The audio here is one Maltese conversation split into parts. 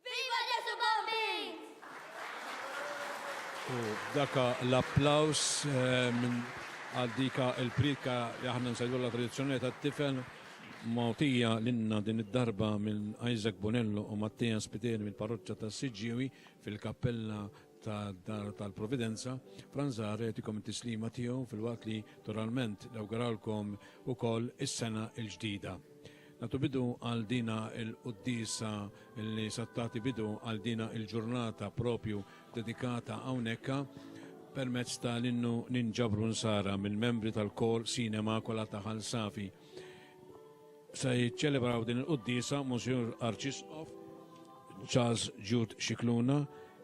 Viva Ġesu Bambin! U daka l-applaus għal dika il-prika li aħna nsejdu la tradizzjoni ta' tifel motija l-inna din id-darba minn Isaac Bonello u Mattia Spiteri mill-parroċċa ta' Siġġiewi fil-kappella ta' Dar tal-Providenza, Franzar jtikom it-tislima tiegħu fil-waqt li toralment nawguralkom ukoll is-sena l-ġdida. Natu bidu għal dina il-qoddisa li sattati bidu għal dina il-ġurnata propju dedikata hawnhekk permezz ta' l-innu ninġabru nsara mill-membri tal-kor Sinema Kola ta' Safi. Se jiċċelebraw din il-quddiesa Monsinjur Arċisqof Charles Jude Scicluna,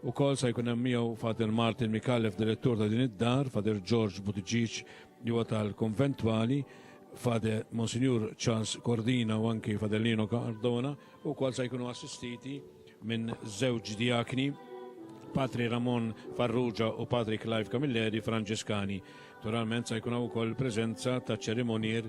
ukoll se jkun hemm miegħu Father Martin Micallef direttur ta' din id-dar, Father George Buttigieg li huwa tal-Konventwali, Father Monsinjur Charles Cordina u anki Father Lino Cardona, ukoll se jkunu assistiti minn żewġ diakni Patri Ramon Farrugia u Patri Clive Camilleri Franġiskani. Naturalment se jkun hawn ukoll preżenza ta' ċerimonier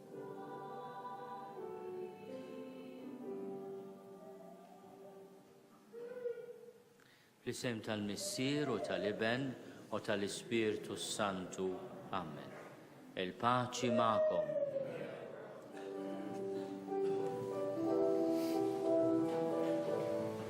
Fl-isem tal-Missier u tal-Iben u tal-Ispirtu s-Santu. Amen. Il-paċi ma'kom.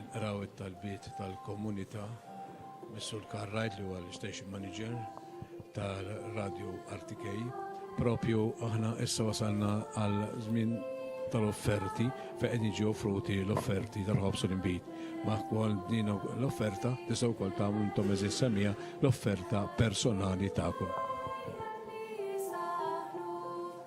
Inqraw it-talbiet tal-komunità mis-Sur Karl Wright li huwa l-Station Manager ta' Radio RTK. Propju aħna issa wasalna għal żmien tal-offerti fejn qed jiġi offruti l-offerti tal-ħobż u l-inbid. Ma' wkoll din l-offerta tistgħu wkoll tagħmlu intom eżis semija l-offerta personali tagħkom.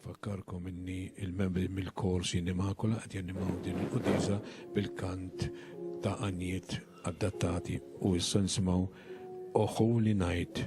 Nfakkarkom inni il-membri mill-Kor Sin Immacola qed janimaw din il-quddiesa bil-kant ta' għanjiet addattati u issa nsimgħu O Holy Night.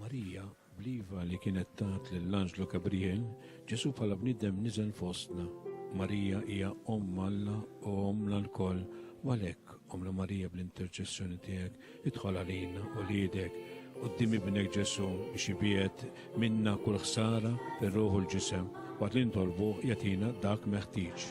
Marija, bl-iva li kienet tat lill-anġlu Gabriel, Ġesù bħala bniedem niżel fostna. Marija hija Omm Alla u Ommna lkoll, u għalhekk, Ommna Marija bl-interċessjoni tiegħek, idħol għalina, uliedek, quddiem Ibnek Ġesù biex ibiegħed minna kull ħsara fir-ruħ u l-ġisem, waqt li nitolbuh jagħtina dak meħtieġ.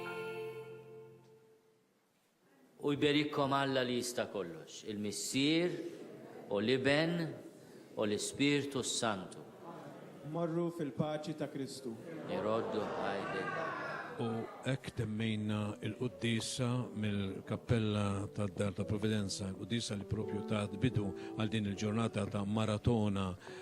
U jberikkom Alla li jista' kollox, il-Missier u l-Iben u l-Ispirtu s-Santu. Morru fil-paċi ta' Kristu. Iroddu ħajr lil bgħad. U hekk temmejna l-quddiesa mill-kappella tad-Dar ta' Providenza, quddiesa li proprju tat bidu għal din il-ġurnata ta' maratona